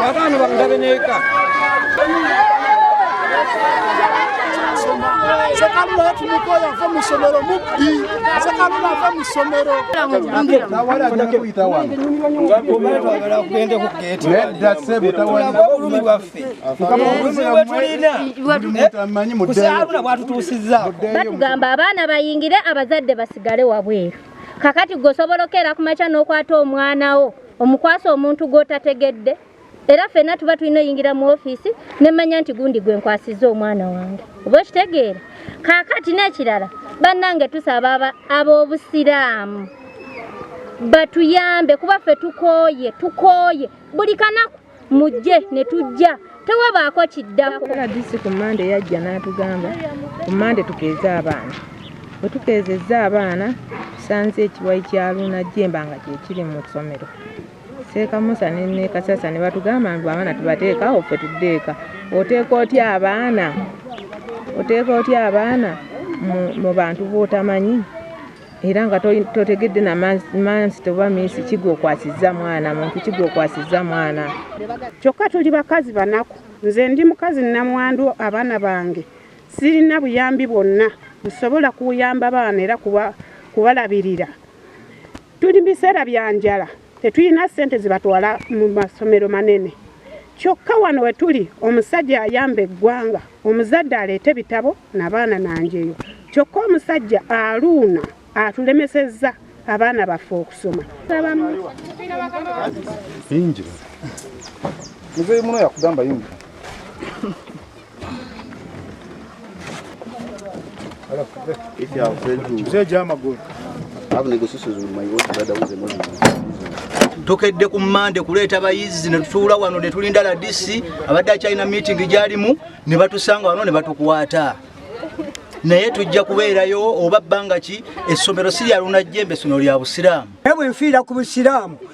Kakano bamudabe neka. sekalula yatumuka oyo ava mu ssomero mubbi sekalula ava mu ssomero obulumi bwaffe batugamba abaana bayingire abazadde basigale wabweru kakati gwe osobola okukeera ku makya n'okwata omwana wo omukwasa omuntu gw'otategedde era fena tuba tulina oyingira mu ofiisi nemanya nti gundi gwe nkwasizza omwana wange oba okitegeera kaakati n'ekirala bannange tusaba ab'obusiraamu batuyambe kuba ffe tukooye tukooye buli kanaku mujje ne tujja tewabaako kiddako rdc ku mande yajja n'atugamba ku mande tukeeze abaana bwe tukeezezza abaana tusanze ekiwayi kya luuna jemba nga kyekiri mu ssomero seeka musa ne kasasa ne batugamba mbu abaana tubateeka awo ffe tudde eka oteeka otya abaana oteeka otya abaana mu bantu bootamanyi era nga totegedde na mansi toba minsi kigwokwasiza mwana muntu kigwokwasiza mwana kyokka tuli bakazi banaku nze ndi mukazi namwandu abaana bange sirina buyambi bwonna nsobola kuyamba baana era kubalabirira tuli mu biseera bya njala Tetulina ssente ze batwala mu masomero manene. Kyokka wano we tuli omusajja ayamba eggwanga, omuzadde aleete bitabo na baana na njeyo. Kyokka omusajja aluuna atulemesezza abaana baffe okusoma. Yingira. Muzeeyi muno yakugamba yingira. If you have failed to... Mzee Jama good. Have negotiations with my old brother who's a Muslim. tukedde ku mande kuleeta bayizi netutuula wano netulinda ladisi abadde akyalina meeting gyalimu ne batusanga wano ne batukwata naye tujja kubeerayo oba bbanga ki essomero si lyalunajjembe essomero lya busiraamu naye bwenfiira ku busiraamu